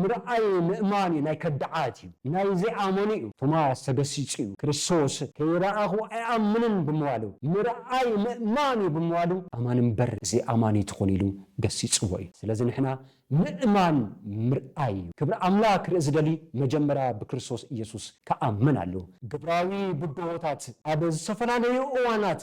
ምርኣይ ምእማን'ዩ ናይ ከዳዓት'ዩ ናይ ዘይኣመኑ'ዩ። ቶማስ ተገሲጹ'ዩ ክርስቶስ ከይረኣኹ ኣይኣምንን ብምባሉ ምርኣይ ምእማን'ዩ ብምባሉ ኣማኒ'ምበር ዘይኣማኒ ኣይትኹን ኢሉ ገሲጽዎ'ዩ። ስለዚ ንሕና ምእማን ምርኣይ'ዩ። ክብሪ ኣምላኽ ክርኢ ዝደሊ መጀመርያ ብክርስቶስ ኢየሱስ ክኣምን ኣለዎ። ግብራዊ ብድሆታት ኣብ ዝተፈላለዩ እዋናት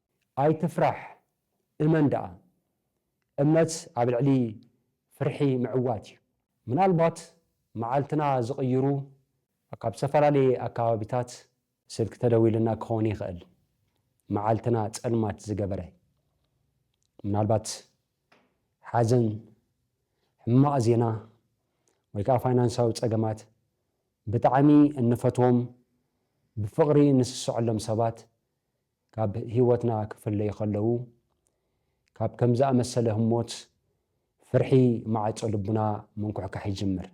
ኣይትፍራሕ እመን ደኣ። እምነት ኣብ ልዕሊ ፍርሒ ምዕዋት እዩ። ምናልባት መዓልትና ዝቕይሩ ካብ ዝተፈላለየ ኣከባቢታት ስልኪ ተደዊሉና ክኸውን ይኽእል መዓልትና ጸልማት ዝገበረ። ምናልባት ሓዘን፣ ሕማቕ ዜና ወይ ከኣ ፋይናንሳዊ ጸገማት፣ ብጣዕሚ እንፈትዎም ብፍቕሪ ንስስዐሎም ሰባት ካብ ህይወትና ክፍለዩ ከለዉ፣ ካብ ከም ዝኣመሰለ ህሞት ፍርሒ ማዕጾ ልብና ምንኩሕካሕ ይጅምር።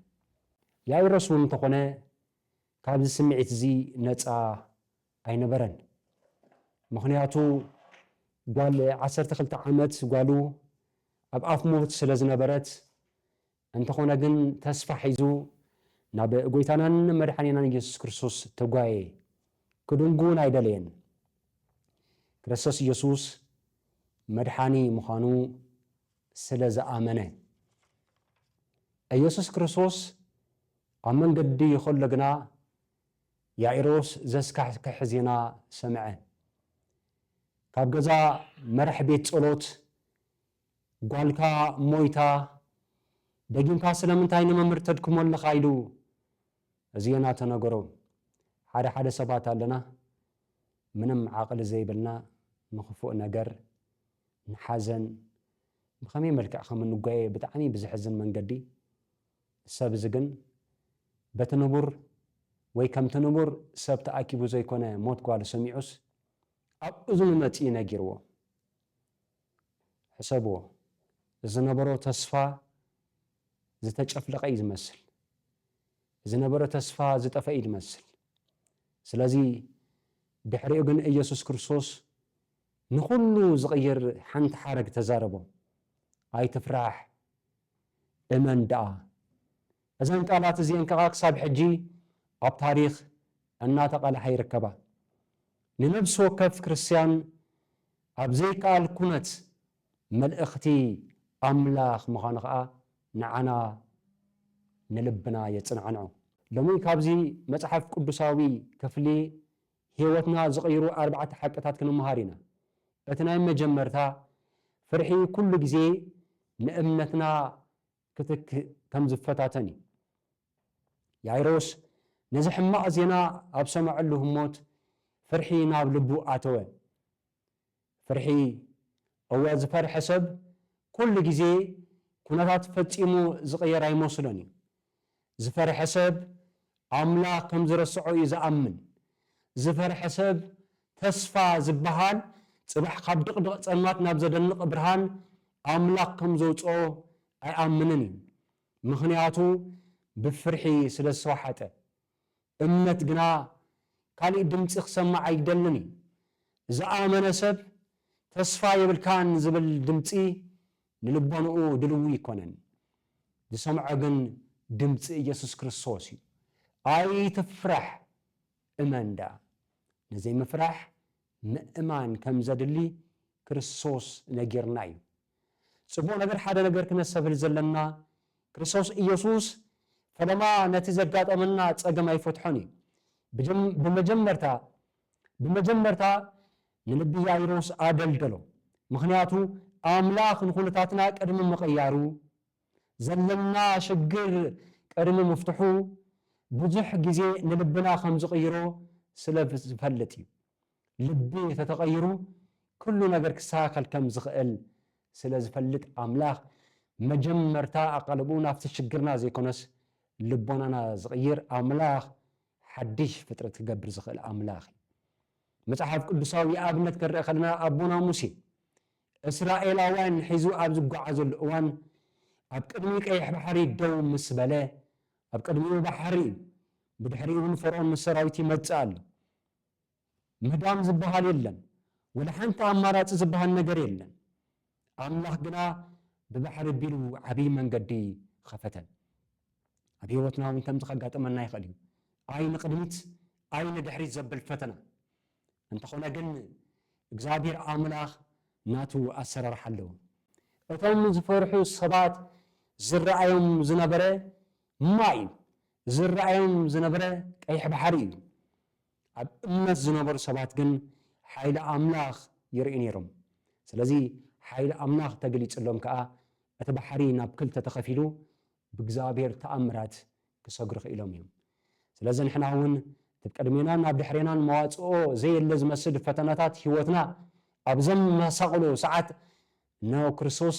ያይሮስ እውን እንተኾነ ካብዚ ስምዒት እዚ ነጻ ኣይነበረን። ምኽንያቱ ጓል ዓሰርተ ክልተ ዓመት ጓሉ ኣብ ኣፍ ሞት ስለ ዝነበረት፣ እንተኾነ ግን ተስፋ ሒዙ ናብ ጎይታናን መድሓኒናን እየሱስ ክርስቶስ ተጓየ ክድንጉ ውን ኣይደለየን ክረሰቶስ እየሱስ መድሓኒ ምዃኑ ስለ ዝኣመነ እየሱስ ክርስቶስ ኣብ መንገዲ ኸሎ ግና ያኢሮስ ዘስካሕክሕ ዜና ሰምዐ ካብ ገዛ መራሕ ቤት ጸሎት ጓልካ ሞይታ ደጊምካ ስለምንታይ ንመምህር ተድክሞ ኣለኻ ኢሉ እዚኤና ተነገሮ ሓደ ሓደ ሰባት ኣለና ምንም ዓቅሊ ዘይብልና ንክፉእ ነገር ንሓዘን ብከመይ መልክዕ ከም እንጓየ ብጣዕሚ ብዝሕዝን መንገዲ ሰብ እዚ ግን በቲ ንቡር ወይ ከምቲ ንቡር ሰብ ተኣኪቡ ዘይኮነ ሞት ጓሉ ሰሚዑስ ኣብ እዝኑ መጺኡ ነጊርዎ። ሕሰብዎ ዝነበሮ ተስፋ ዝተጨፍለቀ እዩ ዝመስል ዝነበረ ተስፋ ዝጠፈ እዩ ዝመስል ስለዚ ድሕሪኡ ግን እየሱስ ክርስቶስ ንኹሉ ዝቕይር ሓንቲ ሓረግ ተዛረቦም ኣይትፍራሕ እመን ደኣ እዘን ቃላት እዚኤን ከኣ ክሳብ ሕጂ ኣብ ታሪኽ እናተቓልሓ ይርከባ። ንነብሲ ወከፍ ክርስትያን ኣብ ዘይከኣል ኩነት መልእኽቲ ኣምላኽ ምዃኑ ከኣ ንዓና ንልብና የጽናዕንዖ። ሎሚ ካብዚ መጽሓፍ ቅዱሳዊ ክፍሊ ሕይወትና ዝቕይሩ ኣርባዕተ ሓቅታት ክንመሃር ኢና። እቲ ናይ መጀመርታ ፍርሒ ኩሉ ግዜ ንእምነትና ክትክእ ከም ዝፈታተን እዩ። ያይሮስ ነዚ ሕማቕ ዜና ኣብ ሰመዐሉ ህሞት ፍርሒ ናብ ልቡ ኣተወ። ፍርሒ፣ እወ ዝፈርሐ ሰብ ኩሉ ግዜ ኩነታት ፈጺሙ ዝቕየር ኣይመስሎን እዩ። ዝፈርሐ ሰብ ኣምላኽ ከም ዝረስዖ እዩ ዝኣምን። ዝፈርሐ ሰብ ተስፋ ዝበሃል ጽባሕ ካብ ድቕድቕ ጸልማት ናብ ዘደንቕ ብርሃን ኣምላኽ ከም ዘውጽኦ ኣይኣምንን እዩ። ምኽንያቱ ብፍርሒ ስለ ዝተዋሓጠ። እምነት ግና ካልእ ድምጺ ክሰምዕ ኣይደልን እዩ። ዝኣመነ ሰብ ተስፋ የብልካን ዝብል ድምጺ ንልቦንኡ ድልው እይኮነን ዝሰምዖ ግን ድምጺ እየሱስ ክርስቶስ እዩ ኣይትፍራሕ እመን ደኣ ንዘይምፍራሕ ምእማን ከምዘድሊ ክርስቶስ ነጊርና እዩ ጽቡቅ ነገር ሓደ ነገር ክነሰብህል ዘለና ክርስቶስ እየሱስ ፈለማ ነቲ ዘጋጠመና ጸገም ኣይፈትሖን እዩ ብመጀመርታ ብመጀመርታ ንልቢ ያይሮስ ኣደልደሎ፣ ምኽንያቱ ኣምላኽ ንዅነታትና ቅድሚ ምቕያሩ፣ ዘለና ሽግር ቅድሚ ምፍትሑ፣ ብዙሕ ግዜ ንልብና ከም ዝቕይሮ ስለ ዝፈልጥ እዩ። ልቢ እንተ ተቐይሩ ኵሉ ነገር ክስተኻኸል ከም ዝኽእል ስለ ዝፈልጥ፣ ኣምላኽ መጀመርታ ኣቓልቦኡ ናብቲ ሽግርና ዘይኰነስ ልቦናና ዝቕይር ኣምላኽ፣ ሓድሽ ፍጥረት ክገብር ዝኽእል ኣምላኽ እዩ። መጽሓፍ ቅዱሳዊ ኣብነት ክንርኢ ከለና ኣቦና ሙሴ እስራኤላውያን ሒዙ ኣብ ዝጓዓዘሉ እዋን ኣብ ቅድሚ ቀይሕ ባሕሪ ደው ምስ በለ ኣብ ቅድሚኡ ባሕሪ እዩ። ብድሕሪኡ እውን ፈርኦን ምስ ሰራዊቱ ይመጽእ ኣሎ። ምህዳም ዝበሃል የለን። ወላ ሓንቲ ኣማራጺ ዝበሃል ነገር የለን። ኣምላኽ ግና ብባሕሪ ኣቢሉ ዓብዪ መንገዲ ኸፈተ። ኣብ ህይወትና እውን ከምዚ ኸጋጥመና ይኽእል እዩ፣ ኣይ ንቕድሚት ኣይ ንድሕሪት ዘብል ፈተና። እንተዀነ ግን፣ እግዚኣብሄር ኣምላኽ ናቱ ኣሰራርሓ ኣለዎ። እቶም ዝፈርሑ ሰባት ዝረኣዮም ዝነበረ ማይ እዩ፣ ዝረኣዮም ዝነበረ ቀይሕ ባሕሪ እዩ። ኣብ እምነት ዝነበሩ ሰባት ግን ሓይሊ ኣምላኽ ይርእዩ ነይሮም። ስለዚ ሓይሊ ኣምላኽ ተገሊጽሎም ከኣ እቲ ባሕሪ ናብ ክልተ ተኸፊሉ ብእግዚኣብሄር ተኣምራት ክሰግሩ ክኢሎም እዮም። ስለዚ ንሕና እውን እቲ ብቅድሜናን ናብ ድሕሬናን መዋጽኦ ዘየለ ዝመስል ፈተናታት ህይወትና ኣብ ዘመሳቕሉ ሰዓት ን ክርስቶስ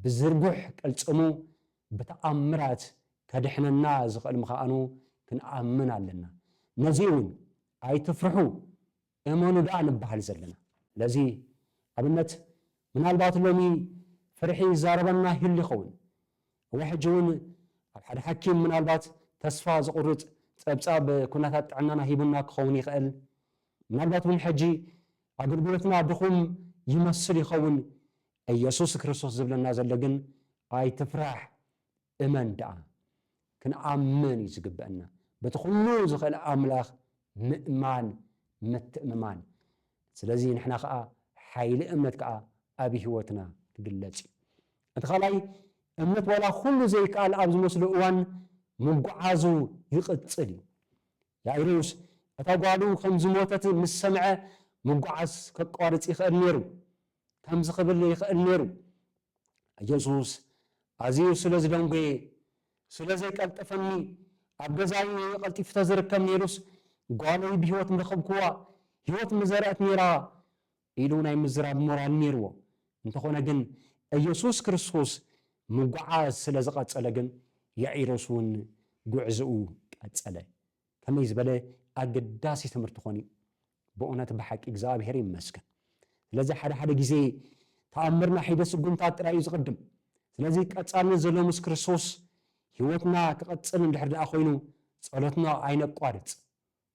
ብዝርጉሕ ቅልጽሙ ብተኣምራት ከድሕነና ዝኽእል ምኻኣኑ ክንኣምን ኣለና። ነዚ እውን ኣይትፍርሑ እመኑ ደኣ ንበሃል ዘለና። ስለዚ ኣብነት ምናልባት ሎሚ ፍርሒ ይዛረበና ይህሉ ይኸውን። እወ ሕጂ እውን ኣብ ሓደ ሓኪም ምናልባት ተስፋ ዘቑርጽ ጸብጻብ ኩነታት ጥዕናና ሂቡና ክኸውን ይኽእል። ምናልባት እውን ሕጂ ኣገልግሎትና ድኹም ይመስል ይኸውን። እየሱስ ክርስቶስ ዝብለና ዘሎ ግን ኣይትፍራሕ እመን ደኣ። ክንኣምን እዩ ዝግበእና በቲ ኩሉ ዝኽእል ኣምላኽ ምእማን ምትእምማን ስለዚ ንሕና ከኣ ሓይሊ እምነት ከኣ ኣብ ሂወትና ክግለጽ እዩ። እቲ ካልኣይ እምነት ዋላ ኩሉ ዘይከኣል ኣብ ዝመስሎ እዋን ምጉዓዙ ይቕጽል እዩ። ያኢሮስ እታ ጓሉ ከም ዝሞተት ምስ ሰምዐ ምጉዓዝ ከቋርጽ ይኽእል ኔሩ። ከምዚ ኽብል ይኽእል ነይሩ፣ የሱስ ኣዝዩ ስለ ዝደንጐየ፣ ስለ ዘይቀልጠፈኒ፣ ኣብ ገዛይ ኢዩ ቀልጢፉ እንተ ዝርከብ ነይሩስ፣ ጓለይ ብህይወት ምረኸብክዋ፣ ህይወት ምዘርኣት ነይራ ኢሉ ናይ ምዝራብ ሞራል ነይርዎ። እንተዀነ ግን፣ የሱስ ክርስቶስ ምጕዓዝ ስለ ዝቐጸለ ግን፣ ያኢሮስ እውን ጕዕዞኡ ቀጸለ። ከመይ ዝበለ ኣገዳሲ ትምህርቲ ዀን ኢዩ! ብኡነት ብሓቂ እግዝኣብሄር ይመስገን ስለዚ ሓደ ሓደ ግዜ ተኣምርና ሒደ ስጉምታት ጥራይ እዩ ዝቅድም ስለዚ ቀጻልነት ዘለዎ ምስ ክርስቶስ ሂወትና ክቅጽል እንድሕር ደኣ ኮይኑ ጸሎትና ኣይነቋርጽ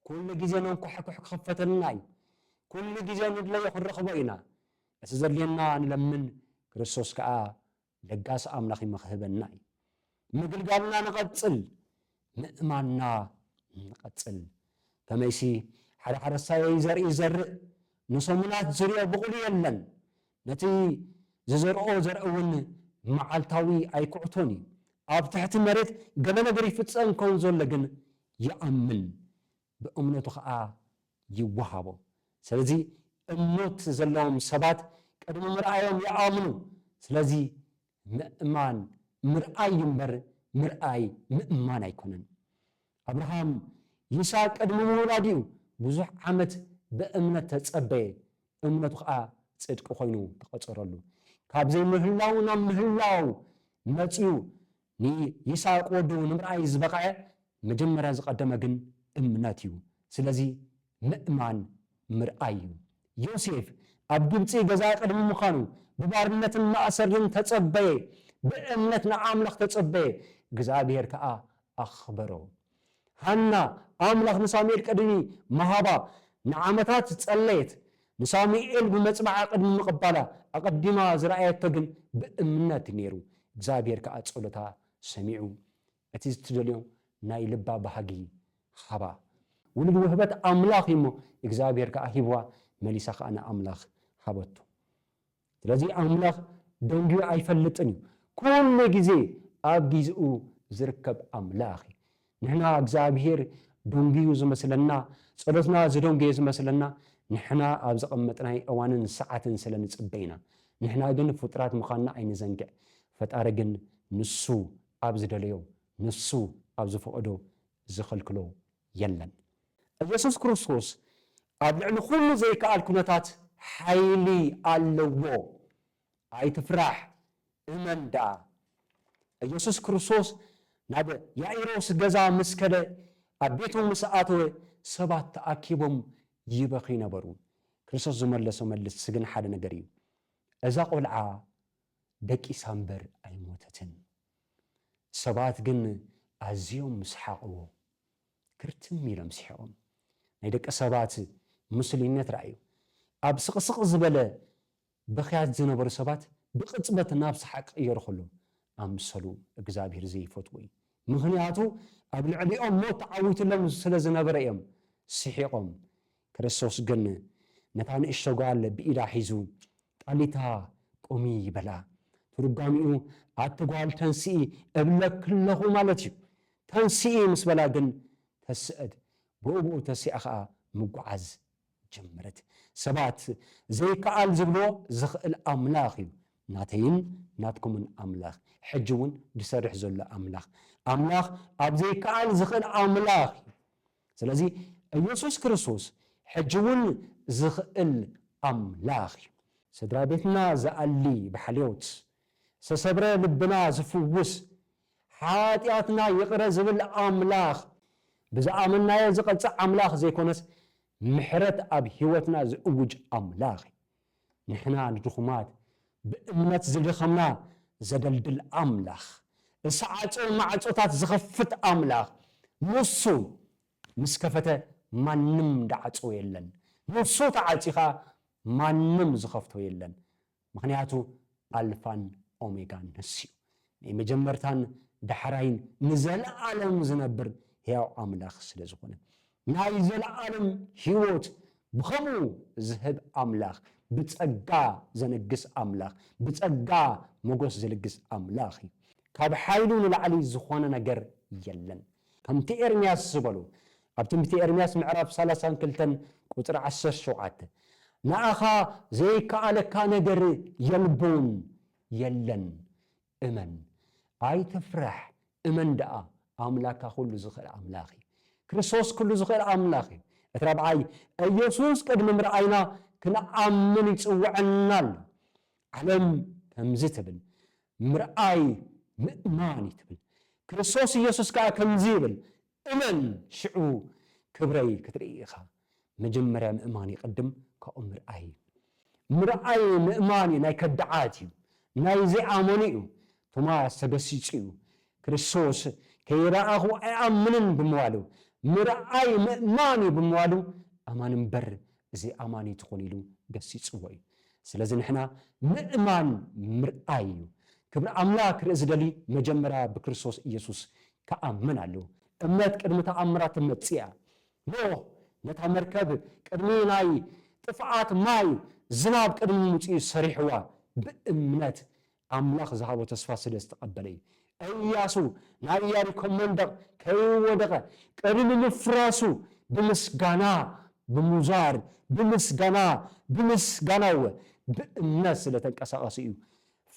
ኩሉ ግዜ ነንኳሕኩሕ ክኽፈተልና እዩ ኩሉ ግዜ ንድለዮ ክንረኽቦ ኢና እቲ ዘድልየና ንለምን ክርስቶስ ከኣ ለጋስ ኣምላኽ ይመኽህበና እዩ ምግልጋልና ንቐጽል ምእማንና ንቐጽል ከመይሲ ሓደ ሓረስታየይ ዘርኢ ይዘርእ ንሰሙናት ዝርኦ ብቑሉ የለን ነቲ ዝዘርኦ ዘርእ ውን መዓልታዊ ኣይኩዕቶን እዩ ኣብ ትሕቲ መሬት ገለ ነገር ይፍጸም ከምዘሎ ግን ይኣምን ብእምነቱ ኸኣ ይወሃቦ። ስለዚ እምኖት ዘለዎም ሰባት ቅድሚ ምርኣዮም ይኣምኑ። ስለዚ ምእማን ምርኣይ እዩ እምበር ምርኣይ ምእማን ኣይኮነን። ኣብርሃም ይስሃቅ ቅድሚ ምውላዱ'ዩ ብዙሕ ዓመት ብእምነት ተጸበየ፣ እምነቱ ኸኣ ጽድቂ ኮይኑ ተቐጸረሉ። ካብ ዘይምህላው ናብ ምህላው መጺኡ ንይስሃቅ ወዱ ንምርኣይ ዝበቐዐ መጀመርያ ዝቐደመ ግን እምነት እዩ ስለዚ ምእማን ምርኣይ እዩ ዮሴፍ ኣብ ግብጺ ገዛ ቅድሚ ምኻኑ ብባርነትን ማእሰርን ተጸበየ ብእምነት ንኣምላኽ ተጸበየ እግዝኣብሄር ከኣ ኣኽበሮ። ሃና ኣምላኽ ንሳሙኤል ቅድሚ ምሃባ ንዓመታት ዝጸለየት፣ ንሳሙኤል ብመጽብዓ ቅድሚ ምቕባላ ኣቐዲማ ዝረኣየቶ ግን ብእምነት እዩ ነይሩ፣ እግዚኣብሄር ከኣ ጸሎታ ሰሚዑ እቲ ዝትደልዮ ናይ ልባ ባህጊ ሃባ። ውሉድ ውህበት ኣምላኽ እዩ እሞ እግዚኣብሄር ከኣ ሂብዋ፣ መሊሳ ከኣ ንኣምላኽ ሃበቶ። ስለዚ ኣምላኽ ደንጉዩ ኣይፈልጥን እዩ። ኩሉ ግዜ ኣብ ጊዝኡ ዝርከብ ኣምላኽ እዩ። ንሕና እግዚኣብሄር ደንጉዩ ዝመስለና፣ ጸሎትና ዝደንጎየ ዝመስለና ንሕና ኣብ ዘቐመጥናይ እዋንን ሰዓትን ስለ ንጽበ ኢና። ንሕና ግን ፍጡራት ምዃንና ኣይንዘንግዕ። ፈጣሪ ግን ንሱ ኣብ ዝደለዮ ንሱ ኣብ ዝፈቐዶ ዝኸልክሎ የለን። ኢየሱስ ክርስቶስ ኣብ ልዕሊ ኩሉ ዘይክኣል ኩነታት ሓይሊ ኣለዎ። ኣይትፍራሕ እመን ደኣ። ኢየሱስ ክርስቶስ ናብ ያኢሮስ ገዛ ምስ ከደ ኣብ ቤቱ ምስ ኣተወ ሰባት ተኣኪቦም ይበኽዩ ነበሩ። ክርስቶስ ዝመለሶ መልስ ስግን ሓደ ነገር እዩ። እዛ ቆልዓ ደቂሳ እምበር ኣይሞተትን። ሰባት ግን ኣዝዮም ምስ ሓቕዎ ክርትም ኢሎም ስሒቖም። ናይ ደቂ ሰባት ምስሉይነት ረኣዩ። ኣብ ስቕስቕ ዝበለ ብኽያት ዝነበሩ ሰባት ብቕጽበት ናብ ሰሓቕ ክቕየሩ ከለዉ ኣምሰሉ እግዝኣብሄር ዘይፈትዉ እዩ። ምኽንያቱ ኣብ ልዕሊኦም ሞት ተዓዊትሎም ስለ ዝነበረ እዮም ስሒቖም። ክርስቶስ ግን ነታ ንእሽቶ ጓል ብኢዳ ሒዙ ጣሊታ ቁሚ በላ። ትርጓሜኡ ኣቲ ጓል ተንስኢ እብለኪ ኣለኹ ማለት እዩ። ተንስኢ ምስ በላ ግን ተሰእት፣ ብኡብኡ ተሲኣ ኸኣ ምጉዓዝ ጀመረት። ሰባት ዘይከኣል ዝብልዎ ዝኽእል ኣምላኽ እዩ። ናተይን ናትኩምን ኣምላኽ፣ ሕጂ እውን ዝሰርሕ ዘሎ ኣምላኽ፣ ኣምላኽ ኣብ ዘይከኣል ዝኽእል ኣምላኽ እዩ። ስለዚ እየሱስ ክርስቶስ ሕጂ እውን ዝኽእል ኣምላኽ እዩ። ስድራ ቤትና ዝኣሊ ብሓልዮት፣ ዝተሰብረ ልብና ዝፍውስ፣ ሓጢኣትና ይቕረ ዝብል ኣምላኽ፣ ብዝኣመንናዮ ዝቐጽዕ ኣምላኽ ዘይኮነስ ምሕረት ኣብ ህይወትና ዝእውጅ ኣምላኽ እዩ። ንሕና ንድኹማት ብእምነት ዝደኸምና ዘደልድል ኣምላኽ ዝሰዓጹ ማዕጾታት ዝኸፍት ኣምላኽ ንሱ ምስ ከፈተ ማንም ድዓጽዎ የለን ንሱ ተዓጽዩ ከኣ ማንም ዝኸፍቶ የለን ምኽንያቱ ኣልፋን ኦሜጋን ንሱዩ ናይ መጀመርታን ዳሕራይን ንዘለኣለም ዝነብር ሕያው ኣምላኽ ስለ ዝኾነ። ናይ ዘለኣለም ሕይወት ብኸምኡ ዝህብ ኣምላኽ፣ ብጸጋ ዘነግስ ኣምላኽ፣ ብጸጋ ሞገስ ዝልግስ ኣምላኽ እዩ። ካብ ሓይሉ ንላዕሊ ዝኾነ ነገር የለን። ከምቲ ኤርምያስ ዝበሎ ኣብ ትንቢተ ኤርምያስ ምዕራፍ ሰላሳን ክልተን ቁጽሪ ዓሰርተ ሸውዓተ፣ ንኣኻ ዘይከኣለካ ነገር የልቦን የለን እመን ኣይትፍራሕ እመን ደኣ ኣምላካ ኩሉ ዝክእል ኣምላክ እዩ ክርስቶስ ኩሉ ዝክእል ኣምላክ እዩ እቲ ራብዓይ እየሱስ ቅድሚ ምርኣይና ክንኣምን ይጽውዐና ኣሎ ዓለም ከምዚ ትብል ምርኣይ ምእማን እዩ ትብል ክርስቶስ እየሱስ ከኣ ከምዚ ይብል እመን ሽዑ ክብረይ ክትርኢ ኢኻ። መጀመርያ ምእማን ይቅድም ካብኡ ምርኣይ ምርኣይ ምእማን ናይ ከዳዓት እዩ ናይ ዘይኣመኑ እዩ ቶማስ ተገሲጹ እዩ ክርስቶስ ከይረኣኹ ኣይኣምንን ብምባሉ ምርኣይ ምእማን እዩ ብምባሉ ኣማኒ እምበር ዘይኣማኒ ትኹን ኢሉ ገሲጽዎ እዩ። ስለዚ ንሕና ምእማን ምርኣይ እዩ። ክብሪ ኣምላክ ክርኢ ዝደሊ መጀመርያ ብክርስቶስ ኢየሱስ ክኣምን ኣለዎ። እምነት ቅድሚ ተኣምራት ትመጽእ እያ። ኖህ ነታ መርከብ ቅድሚ ናይ ጥፍኣት ማይ ዝናብ ቅድሚ ምምጽኡ ሰሪሕዋ ብእምነት ኣምላኽ ዝሃቦ ተስፋ ስለ ዝተቐበለ እዩ። እያሱ ናይ እያሪኮ መንደቕ ከይወደቐ ቅድሚ ምፍራሱ ብምስጋና ብምውዛር ብምስጋና ብምስጋና እወ ብእምነት ስለ ተንቀሳቐሱ እዩ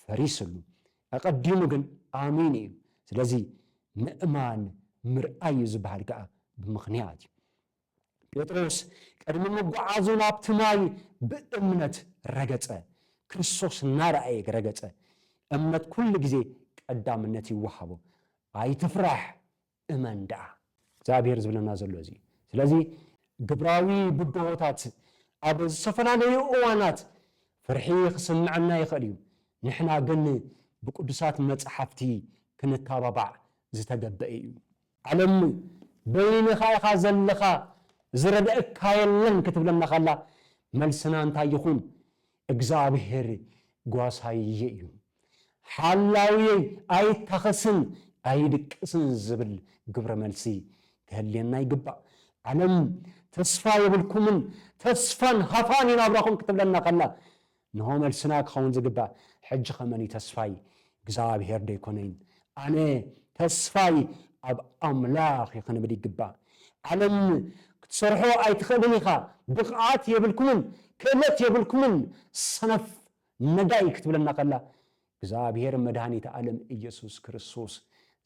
ፈሪስሉ። ኣቐዲሙ ግን ኣሚኑ እዩ። ስለዚ ምእማን ምርኣይ እዩ ዝበሃል ከኣ ብምኽንያት እዩ። ጴጥሮስ ቅድሚ ምጉዓዙ ናብቲ ማይ ብእምነት ረገጸ። ክርስቶስ እናረኣየ ረገጸ። እምነት ኩሉ ግዜ ቀዳምነት ይወሃቦ። ኣይትፍራሕ እመን ደኣ። እግዚኣብሄር ዝብለና ዘሎ እዚ እዩ። ስለዚ ግብራዊ ብድሆታት ኣብ ዝተፈላለዩ እዋናት ፍርሒ ክስምዐና ይኽእል እዩ። ንሕና ግን ብቅዱሳት መጻሕፍቲ ክንታባባዕ ዝተገበኤ እዩ። ዓለምይ በይንኻ ኢኻ ዘለኻ ዝረደኣካ የለን ክትብለና ከላ መልስና እንታይ ይኹን እግዝኣብሄር ጓሳይይ እዩ ሓላውየይ ኣይታኸስን ኣይድቅስን ዝብል ግብረ መልሲ ክህልየና ይግባእ ዓለም ተስፋ የብልኩምን ተስፋን ሃፋን እዩ ናብራኹም ክትብለና ከላ እንሆ መልስና ክኸውን ዝግባእ ሕጂኸ መን እዩ ተስፋይ እግዚኣብሄር ዶ ኣይኮነይን ኣነ ተስፋይ ኣብ ኣምላኽ እዩ ክንብል ይግባእ ዓለም ክትሰርሖ ኣይትኽእልን ኢኻ ብቕዓት የብልኩምን ክእለት የብልኩምን ሰነፍ ነዳይ ክትብለና ከላ እግዚኣብሄር መድሃኒት ዓለም ኢየሱስ ክርስቶስ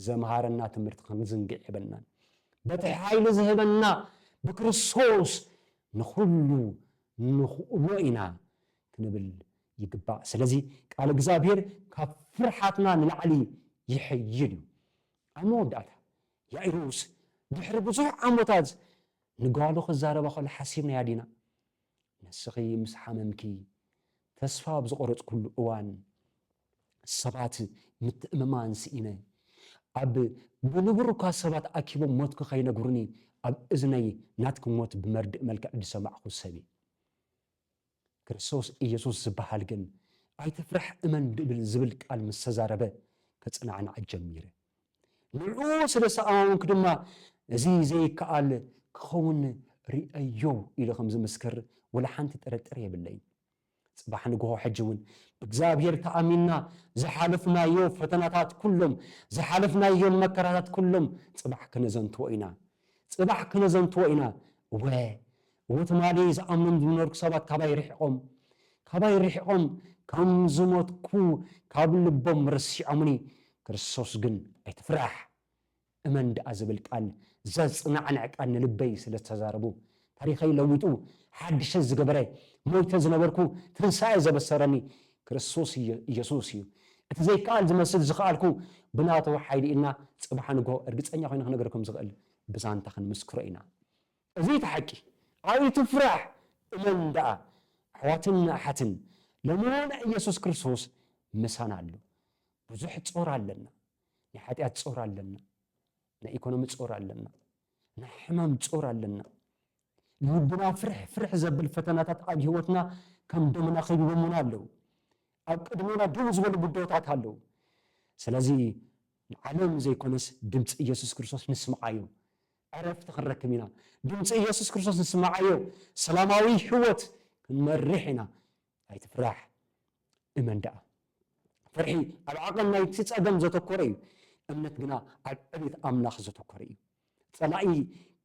ዘምሃረና ትምህርቲ ክንዝንግዕ የብልናን በቲ ሓይሊ ዝህበና ብክርስቶስ ንኹሉ ንኽእሎ ኢና ክንብል ይግባእ። ስለዚ ቃል እግዚኣብሄር ካብ ፍርሓትና ንላዕሊ ይሕይል እዩ። ኣብ መወዳእታ ያኢሮስ ድሕሪ ብዙሕ ዓሞታት ንጓሉ ክዛረባ ከሎ ሓሲብናያ ዲና? ንስኺ ምስ ሓመምኪ፣ ተስፋ ኣብ ዝቖረጽኩሉ እዋን፣ ሰባት ምትእምማን ስኢነ ኣብ ብንቡር እኳ ሰባት ኣኪቦም ሞትኪ ከይነግሩኒ ኣብ እዝነይ ናትኪ ሞት ብመርድእ መልክዕ ዝሰማዕኩ ሰብ እየ። ክርስቶስ ኢየሱስ ዝበሃል ግን ኣይትፍራሕ እመን ድብል ዝብል ቃል ምስ ተዛረበ ከጸናዕናዕ ጀሚረ። ንዕኡ ስለ ሰኣማምንኩ ድማ እዚ ዘይከኣል ክኸውን ርእየዮ ኢሉ ከም ዝምስክር ወላ ሓንቲ ጥርጥር የብለይን። ጽባሕ ንግሆ ሕጂ ውን ብእግዚኣብሄር ተኣሚንና ዝሓለፍናዮ ፈተናታት ኩሎም ዝሓለፍናዮም መከራታት ኩሎም ጽባሕ ክነዘንትዎ ኢና ጽባሕ ክነዘንትዎ ኢና እወ እወ ትማሊ ዝኣምኖም ዝነበርኩ ሰባት ካባይ ርሒቆም ካባይ ርሒቆም ከም ዝሞትኩ ካብ ልቦም ረሲዖምኒ ክርስቶስ ግን ኣይትፍራሕ እመን ደኣ ዝብል ቃል ዘጽናዕንዕ ቃል ንልበይ ስለ ዝተዛረቡ ታሪኸይ ለዊጡ ሓድሸ ዝገበረ ሞይተ ዝነበርኩ ትንሳኤ ዘበሰረኒ ክርስቶስ ኢየሱስ እዩ እቲ ዘይከኣል ዝመስል ዝኸኣልኩ ብናቱ ሓይሊ ኢልና ጽባሕ ንግሆ እርግጸኛ ኮይነ ክነግረኩም ዝኽእል ብዛንታ ክንምስክሮ ኢና እዚ እቲ ሓቂ ኣይትፍራሕ እመን ደኣ ኣሕዋትን ኣሓትን ሎሚ እውን ኢየሱስ ክርስቶስ ምሳና ኣሎ ብዙሕ ጾር ኣለና ናይ ሓጢኣት ጾር ኣለና ናይ ኢኮኖሚ ጾር ኣለና ናይ ሕማም ጾር ኣለና ልብና ፍርሕ ፍርሕ ዘብል ፈተናታት ኣብ ህይወትና ከም ደመና ከቢቦሙና ኣለዉ ኣብ ቅድሜና ደው ዝበሉ ጉዳዮታት ኣለዉ ስለዚ ንዓለም ዘይኮነስ ድምፂ ኢየሱስ ክርስቶስ ንስምዓዮ ዕረፍቲ ክንረክብ ኢና ድምፂ ኢየሱስ ክርስቶስ ንስምዓዮ ሰላማዊ ህይወት ክንመርሕ ኢና ኣይትፍራሕ እመን ደኣ። ፍርሒ ኣብ ዓቐን ናይቲ ጸገም ዘተኮረ እዩ፣ እምነት ግና ኣብ ዕቤት ኣምላኽ ዘተኮረ እዩ። ጸላኢ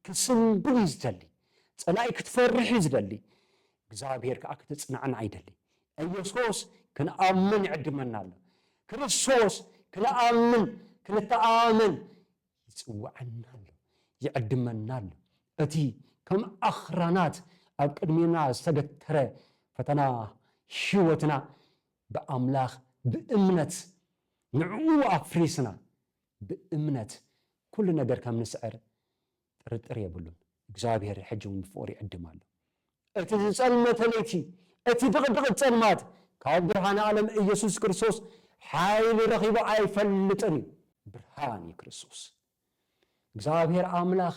ክስንብድ እዩ ዝደሊ፣ ጸላኢ ክትፈርሕ እዩ ዝደሊ፣ እግዚኣብሄር ከኣ ክትጽናዕናዕ ይደሊ። ኢየሱስ ክንኣምን ይዕድመና ኣሎ፣ ክርስቶስ ክንኣምን ክንተኣማመን ይጽውዓና ኣሎ፣ ይዕድመና ኣሎ። እቲ ከም ኣኽራናት ኣብ ቅድሜና ዝተገተረ ፈተና ህይወትና ብኣምላኽ ብእምነት ንዕኡ ኣፍሪስና ብእምነት ኩሉ ነገር ከም ንስዕር ጥርጥር የብሉን። እግዚኣብሔር ሕጂውን ብፍቕሩ ይዕድም ኣሎ። እቲ ዝጸልመተ ለይቲ፣ እቲ ድቕድቕት ጸልማት፣ ካብ ብርሃነ ዓለም ኢየሱስ ክርስቶስ ሓይሊ ረኺቡ ኣይፈልጥን እዩ። ብርሃን እዩ ክርስቶስ። እግዚኣብሔር ኣምላኽ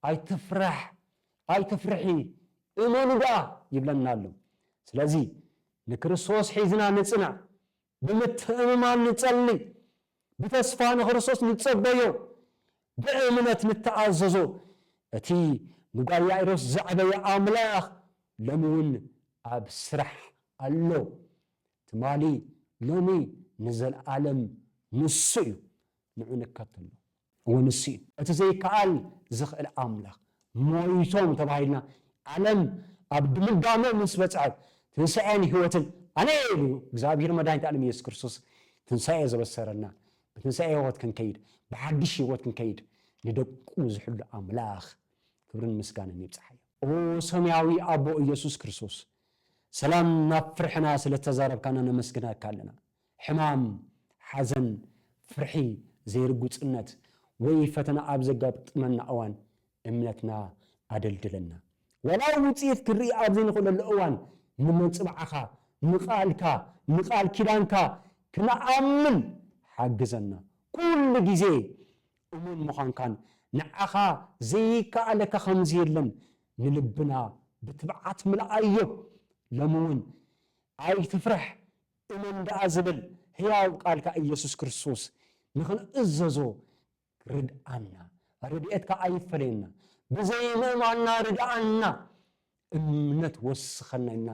ኣይትፍራሕ፣ ኣይትፍርሒ፣ እመኑ ደኣ ይብለና ኣሎ። ስለዚ ንክርስቶስ ሒዝና ንጽናዕ፣ ብምትእምማን ንጸሊ፣ ብተስፋ ንክርስቶስ ንጸበዮ፣ ብእምነት ንተኣዘዞ፣ እቲ ንጓል ያኢሮስ ዘዕበየ ኣምላኽ ሎሚ ውን ኣብ ስራሕ ኣሎ፣ ትማሊ፣ ሎሚ፣ ንዘልኣለም ንሱ እዩ፣ ንዑ ንከተሎ። እወ ንሱ እዩ። እቲ ዘይከኣል ዝኽእል ኣምላኽ። ሞይቶም ተባሂልና ዓለም ኣብ ድምዳመ ምስ በጽሐት ትንሳኤን ሕይወትን ኣነ እየ ኢሉ እግዚኣብሔር መድኃኒተ ዓለም ኢየሱስ ክርስቶስ ትንሳኤ ዘበሰረና ብትንሳኤ ሕይወት ክንከይድ ብሓድሽ ሕይወት ክንከይድ ንደቁ ዝሕሉ ኣምላኽ ክብርን ምስጋንን ይብጽሓዮ። ኦ ሰማያዊ ኣቦ ኢየሱስ ክርስቶስ ሰላም ናብ ፍርሕና ስለ ተዛረብካና ነመስግነካ ኣለና። ሕማም፣ ሓዘን፣ ፍርሒ፣ ዘይርጉጽነት፣ ወይ ፈተና ኣብ ዘጋጥመና እዋን እምነትና ኣደልድለና። ዋላ ውጽኢት ክንርኢ ኣብ ዘይንኽእለሉ እዋን ንመንጽብዓኻ፣ ንቃልካ፣ ንቃል ኪዳንካ ክንኣምን ሓግዘና። ኩሉ ግዜ እሙን ምዃንካን ንዓኻ ዘይከኣለካ ከምዘየለን ንልብና ብትብዓት ምልኣዮ። ሎሚ እውን ኣይትፍራሕ እመን ደኣ ዝብል ህያው ቃልካ ኢየሱስ ክርስቶስ ንኽንእዘዞ ርድኣና ረድኤትካ ኣይፈለየና ብዘይምእማንና ርድኣና እምነት ወስኸና ኢልና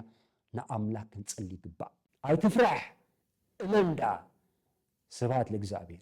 ንኣምላክ ክንጽሊ ይግባእ። ኣይትፍራሕ እመን ደኣ። ስብሃት ለእግዚኣብሔር።